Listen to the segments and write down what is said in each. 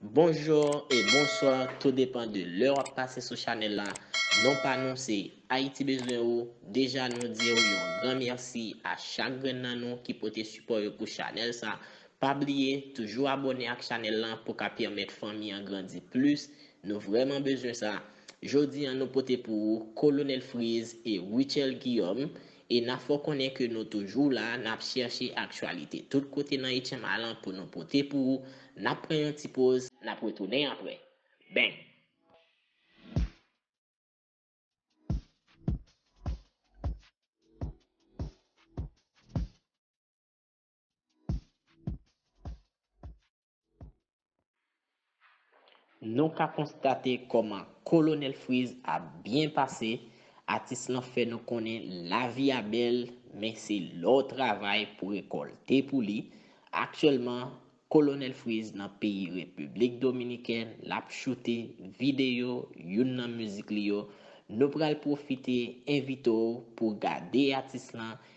Bonjour et bonsoir tout depan de lè wap pase sou chanel la non pa nou se Haïti bezwen ou deja nou diw yon gran merci a chak grenn nan nou ki pote sipò yo pou chanel sa pa bliye toujou abòne ak chanel lan pou ka pèmèt fanmi an grandi plus nou vrèman bezwen sa jodi an nou pote pou ou Colonel Freeze et Rutshelle Guillaume E na fè w konnen ke nou toujou la, nap chèche aktyalite tout kote nan HMA lan pou nou pote pou ou. Nap pran yon ti poz, nap retounen aprè. Bang! Nou ka konstate kòman Kolonèl Friz ap byen pase, atis lan fè nou konnen lavi a bèl men se lè w travay pou rekòlte pou li, aktyèlman Kolonèl Friz nan peyi Repiblik Dominikèn l ap choute videyo youn nan mizik li yo, nou pral pwofite envite w pou gade atis lan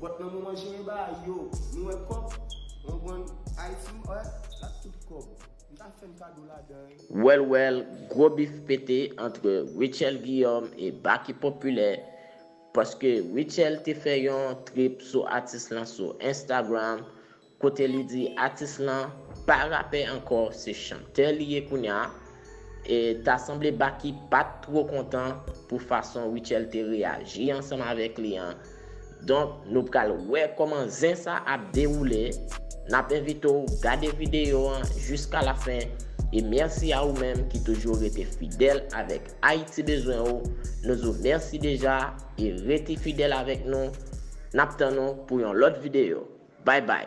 Vòt nan moman jeyen ba yo nou wè kòb konprann ayiti m wè la tout kòb m ta fèm kado ladan l. Well well gwo bif pete antre Rutshelle Guillaume e Baky Populaire paske Rutshelle te fè yon trip sou atis lan sou Instagram kote li di atis lan pa rapè ankò se chantè li ye kounya e ta sanble Baky pat two kontan pou fason Rutshelle te reyaji ansanm avèk li an donk nou pral wè kòman zen sa ap dewoule nap envite w gade videyo an jiska la fen e mèsi a ou menm ki toujou rete fidèl avèk Ayiti bezwen w nou zou mèsi deja e rete fidèl avèk nou nap tann ou pou yon lòt videyo. Bye bye.